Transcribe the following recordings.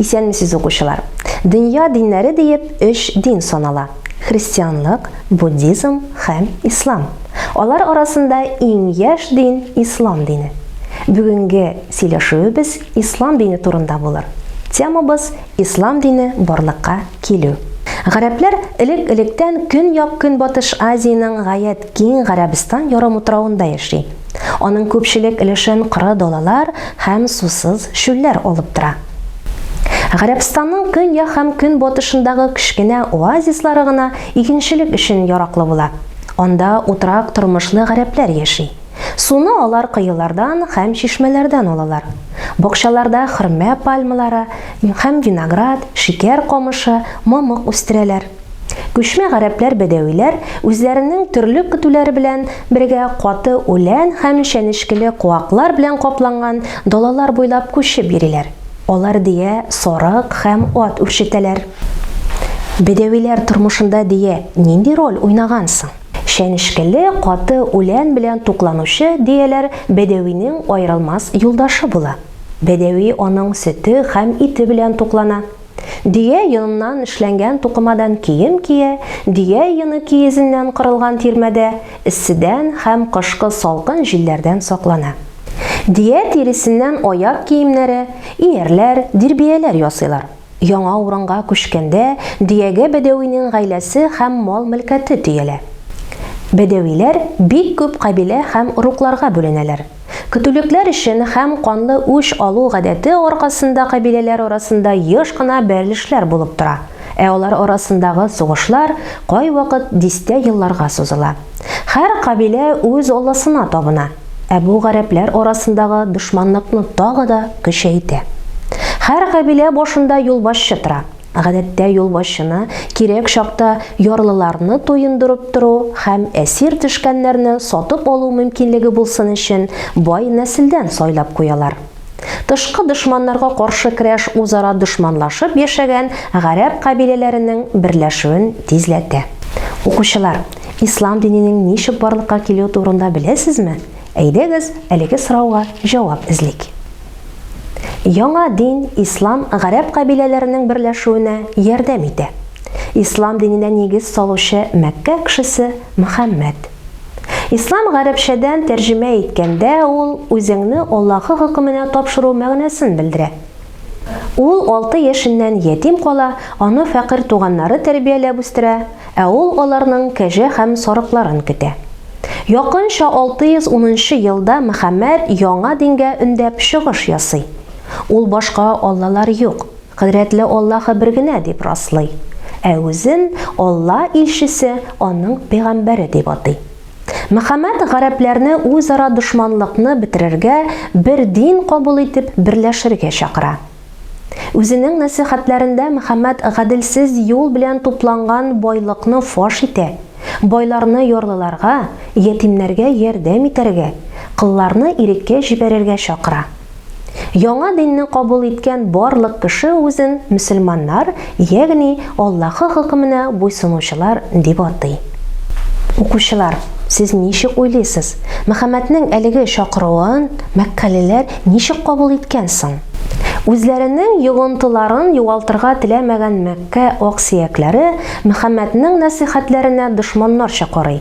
Исәнмесез укучылар! Дөнья диннәре диеп өч дин санала, христианлык, буддизм һәм ислам. Алар арасында иң яшь дин ислам дине. Бүгенге сөйләшүебез ислам дине турында булыр. Темабыз, ислам дине барлыкка килү. Гарәпләр элек-электән Көньяк-Көнбатыш Азиянең гаять киң Гарәбстан ярымутравында яши. Аның күпчелек өлешен коры далалар һәм сусыз чүлләр алып тора. Гарәбстанның көньяк һәм көнбатышындагы кечкенә оазислары гына игенчелек өчен яраклы була. Анда утрак тормышлы гарәпләр яши. Суны алар коелардан һәм чишмәләрдән алалар. Бакчаларда хөрмә пальмалары һәм виноград, шикәр камышы, мамык үстерәләр. Күчмә гарәпләр-бәдәвиләр үзләренең төрле көтүләре белән бергә каты үлән һәм чәнечкеле куаклар белән капланган далалар буйлап күчеп йөриләр. Алар дөя, сарык һәм ат үрчетәләр. Бәдәвиләр тормышында дөя нинди роль уйнаган соң? Чәнечкеле каты үлән белән тукланучы дөяләр бәдәвинең аерылмас юлдашы була. Бәдәви аның сөте һәм ите белән туклана. Дөя йоныннан эшләнгән тукымадан кием кия, дөя йоны киезеннән корылган тирмәдә эсседән һәм кышкы салкын җилләрдән саклана. Дөя тиресеннән аяк киемнәре, иярләр, дирбияләр ясыйлар. Яңа урынга күчкәндә дөягә бәдәвинең гаиләсе һәм мал-мөлкәте төялә. Бәдәвиләр бик күп кабилә һәм орукларга бүленәләр. Көтүлекләр өчен һәм канлы үч алу гадәте аркасында кабиләләр арасында еш кына бәрелешләр булып тора, ә алар арасындагы сугышлар кайвакыт дистә елларга сузыла. Хәр кабилә үз алласына табына, ә бу гарәпләр арасындагы дошманлыкны тагы да көчәйтә. Хәр кабилә башында юлбашчы тора. Гадәттә юлбашчыны кирәк чакта ярлыларны туендырып тору һәм әсир төшкәннәрне сатып алу мөмкинлеге булсын өчен бай нәселдән сайлап куялар. Тышкы дошманнарга каршы көрәш үзара дошманлашып яшәгән гарәп кабиләләренең берләшүен тизләтә. Укучылар, ислам диненең ничек барлыкка килүе турында беләсезме? Әйдәгез, әлеге сорауга җавап эзлик. Яңа дин, ислам, гарәп кабиләләренең берләшүенә ярдәм итә. Ислам диненә нигез салучы Мәккә кешесе Мөхәммәд. Ислам гарәпчәдән тәрҗемә иткәндә ул үзеңне Аллаһы хөкеменә тапшыру мәгънәсен белдерә. Ул алты яшеннән ятим кала, аны фәкыйрь туганнары тәрбияләп үстерә, ә ул аларның кәҗә һәм сарыкларын көтә. Якынча 610 нчы елда Мөхәммәд яңа дингә өндәп чыгыш ясый. Ул башка аллалар юк. Кодрәтле Аллаһы бер генә дип раслый, ә үзен Алла илчесе, аның пәйгамбәре дип атый. Мөхәммәд гарәпләрне үзара дошманлыкны бетерергә, бер дин кабул итеп, берләшергә чакыра. Үзенең нәсыйхәтләрендә Мөхәммәд гаделсез юл белән тупланган байлыкны фаш итә, байларны ярлыларга, ятимнәргә ярдәм итәргә, колларны иреккә җибәрергә чакыра. Яңа динне кабул иткән барлык кеше үзен мөселманнар, ягъни Аллаһы хөкеменә буйсынучылар дип атый. Укучылар, сез ничек уйлыйсыз, Мөхәммәднең әлеге чакыруын мәккәлеләр ничек кабул иткән соң? Үзләренең йогынтыларын югалтырга теләмәгән Мәккә аксөякләре Мөхәммәднең нәсыйхәтләренә дошманнарча карый.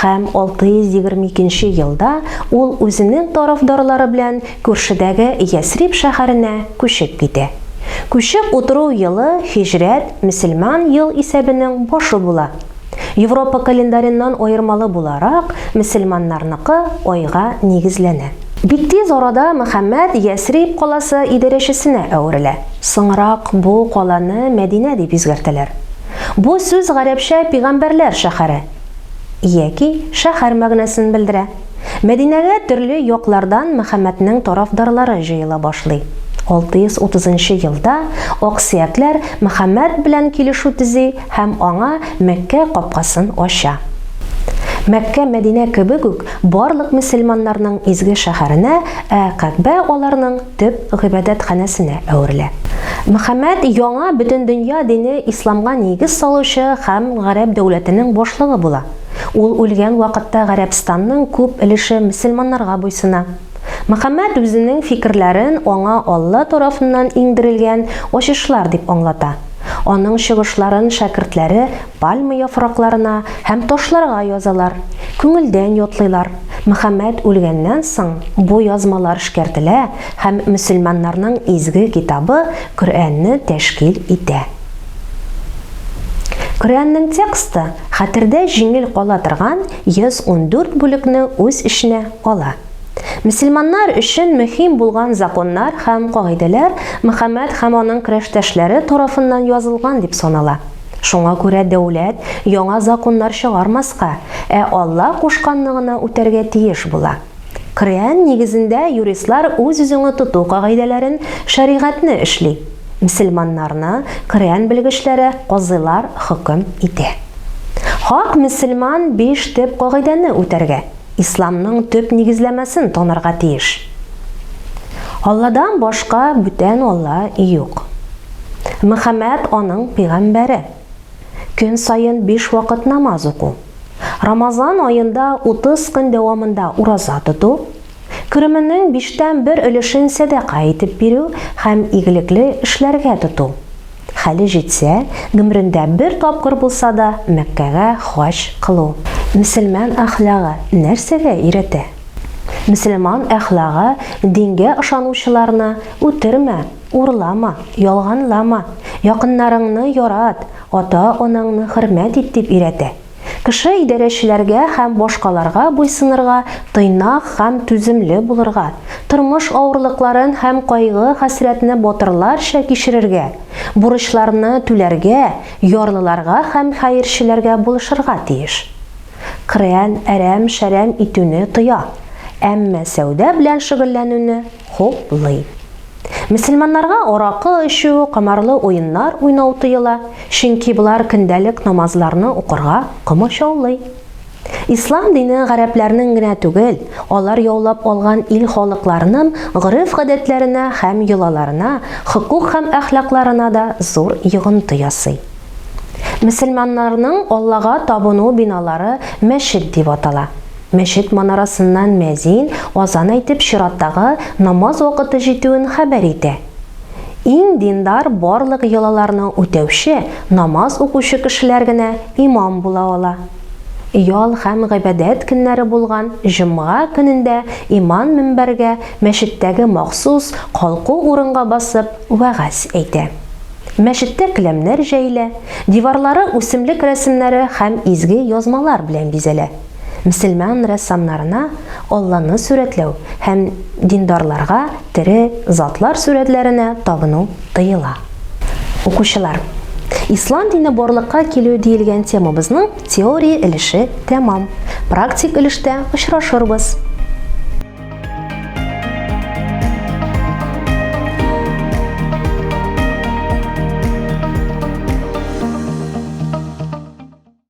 Һәм 622 нче елда ул үзенең тарафдарлары белән күршедәге Ясриб шәһәренә күчеп китә. Күчеп утыру елы һиҗрәт, мөселман ел исәбенең башы була. Европа календареннан аермалы буларак, мөселманнарныкы айга нигезләнә. Бик тиз арада Мөхәммәд Ясриб каласы идарәчесенә әверелә. Соңрак бу каланы Мәдинә дип үзгәртәләр. Бу сүз гарәпчә пигамбәрләр шәһәре. яки шәһәр мәгънәсен белдерә. Мәдинәгә төрле яклардан Мөхәммәднең тарафдарлары җыела башлый. 630 нчы елда аксөякләр Мөхәммәд белән килешү төзи һәм аңа Мәккә капкасын ача. Мәккә Мәдинә кебек үк барлык мөселманнарның изге шәһәренә, ә Кәгъбә аларның. төп гыйбадәтханәсенә әверелә. Мөхәммәд яңа бөтендөнья дине исламга нигез салучы һәм гарәп дәүләтенең башлыгы була. Ул үлгән вакытта Гарәбстанның күп өлеше мөселманнарга буйсына. Мөхәммәд үзенең фикерләрен аңа Алла тарафыннан иңдерелгән ачышлар дип аңлата. Аның чыгышларын шәкертләре Пальма яфракларына һәм ташларга язалар, күңелдән ятлыйлар. Мөхәммәд үлгәннән соң, бу язмалар эшкәртелә һәм мөселманнарның изге китабы Коръәнне тәшкил итә. Коръәннең тексты хәтердә җиңел кала торган 114 бүлекне үз эченә ала. Мөселманнар өчен мөһим булган законнар һәм кагыйдәләр Мөхәммәд һәм аның көрәштәшләре тарафыннан язылган дип санала. Шуңа күрә дәүләт яңа законнар чыгармаска, ә Алла кушканны гына үтәргә тиеш була. Крәан нигезендә юристлар үз-үзеңе тоту кагыйдәләрен, шәригатьне эшли. Мсельманнарны Крәан белгечләре, казыйлар хөкем итә. Хак мсельман биш төп кагыйдәне үтәргә. Исламның төп нигезләмәсен танырга тиеш. Алладан башка бүтән Алла юк. Мөхәммәд аның пигамбәре. Көн саен 5 вакыт намаз уку. Рамазан аенда 30 көн дәвамында ураза тоту, кеременең биштән бер өлешен сәдака итеп бирү һәм игелекле эшләргә тоту. Хәле җитсә, гомерендә бер тапкыр булса да Мәккәгә хаҗ кылу. Мөселман әхлагы нәрсәгә өйрәтә? Мөселман әхлагы дингә ышанучыларны үтермә, урлама, ялганлама, якыннарыңны ярат, ата-анаңны хөрмәт ит дип өйрәтә. Кеше идарәчеләргә һәм башкаларга буйсынырга, тыйнак һәм түземле булырга, тормыш авырлыкларын һәм кайгы-хәсрәтне батырларча кичерергә, бурычларны түләргә, ярлыларга һәм хәерчеләргә булышырга тиеш. Коръән әрәм-шәрәм итүне тыя, әмма сәүдә белән шөгыльләнүне хуплый. Мөселманнарга аракы эчү, комарлы уеннар уйнау тыела, чөнки болар көндәлек намазларны укырга комачаулый. Ислам дине гарәпләрнең генә түгел, алар яулап алган ил халыкларының гореф-гадәтләренә һәм йолаларына, хокук һәм әхлакларына да зур йогынты ясый. Мөселманнарның Аллага табыну биналары мәчет дип атала. Мәчет манарасыннан мәзин азан әйтеп чираттагы намаз вакыты җитүен хәбәр итә. Иң диндар барлык йолаларны үтәүче, намаз укучы кешеләр генә имам була ала. Ял һәм гыйбадәт көннәре булган җомга көнендә иман мөнбәргә, мәчеттәге махсус калку урынга басып вәгазь әйтә. Мәчеттә келәмнәр җәелә, диварлары үсемлек рәсемнәре һәм изге язмалар белән бизәлә. мөселман рәссамнарына Алланы сурәтләү һәм диндарларга тере затлар сурәтләренә табыну тыела. Укучылар, Ислам дине барлыкка килү диелгән темабызның теория өлеше тәмам. Практик өлештә очрашырбыз.